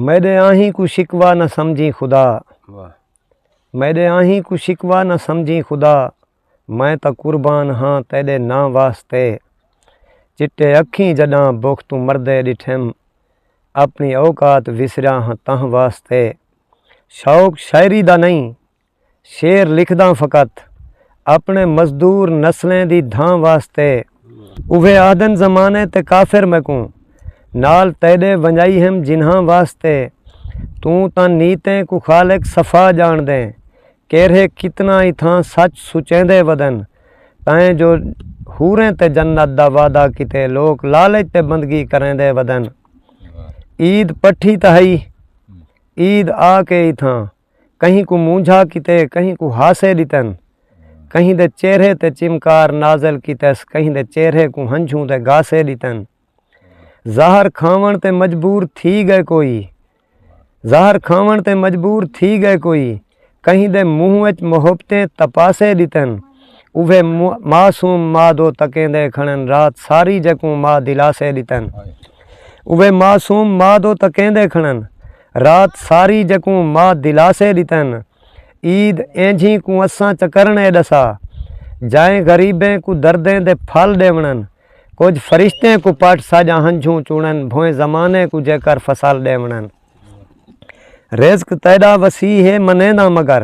میݙے آہیں کوں شکوہ نہ سمجھیں خدا میݙے آہیں کوں شکوہ نہ سمجھیں خدا میں تاں قربان ہاں تیݙے ناں واسطے چٹے اکھیں جݙاں بکھ توں مردے ݙٹھم اپݨی اوقات وسریاں ہاں تاں واسطے شوق شاعری دا نہیں شعر لکھداں فقط اپنے مزدور نسلیں دی دھاں واسطے۔ اوہے آہدن زمانے تے کافر میکوں نال تیڈے ونجائی ہم جنہاں واسطے توں تاں نیتیں کوں خالق صفا جانڑدیں کیرھے کتنا ای تھاں سچ سچیندے ودن تائیں جو حوریں تے جنت دا وعدہ کیتے لوک لالچ تے بندگی کریندے ودن عید پٹھی تاں ہئی عید آ کے ای تھاں کہیں کو مونجھا کیتے کہیں کو ہاسے ڈتن کہیں دے چہرے تے چمکار نازل کیتس کہیں دے چہرے کو ہنجھوں دے گاسے ڈتن زہر کھاون تے مجبور تھی گئے کوئی زہر کھاون تے مجبور تھی گئے کوئی کہیں دے منہ وچ محبتیں تپاسے ڈتن اوے معصوم ماں دو تکیں دے کھڑن رات ساری جکوں ماں دلاسے ڈتن اوے معصوم ماں دو تکیں دے کھڑن رات ساری جکوں ماء دلاسے ڈتن عید اینجھی کوں اساں چکرنڑے ڈسا جائیں غریبیں کوں دردیں دے پھل ڈیونڑن کجھ فرشتیں کوں پٹ ساجا ہنجھوں چونڑن بھویں زمانے کوں جیکر فصل ڈیونڑن رزق تیڈا وسیع ہے منینداں مگر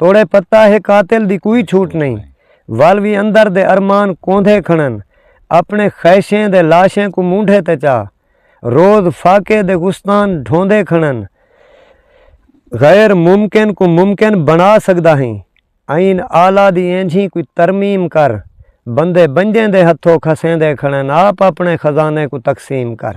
توڑے پتہ ہے قاتل دی کوئی چھوٹ نہیں ول وی اندر دے ارمان کوندھے کھنن اپنے خیشیں دے لاشیں کو مونڈھے تے چا روز فاقے دے گستان ڈھوندے کھنن غیر ممکن کو ممکن بنا سکدا ہیں آئین آلہ دی اینجھی کوئی ترمیم کر بندے بنجیں دے ہتھو کھسیں دے کھنن آپ اپنے خزانے کو تقسیم کر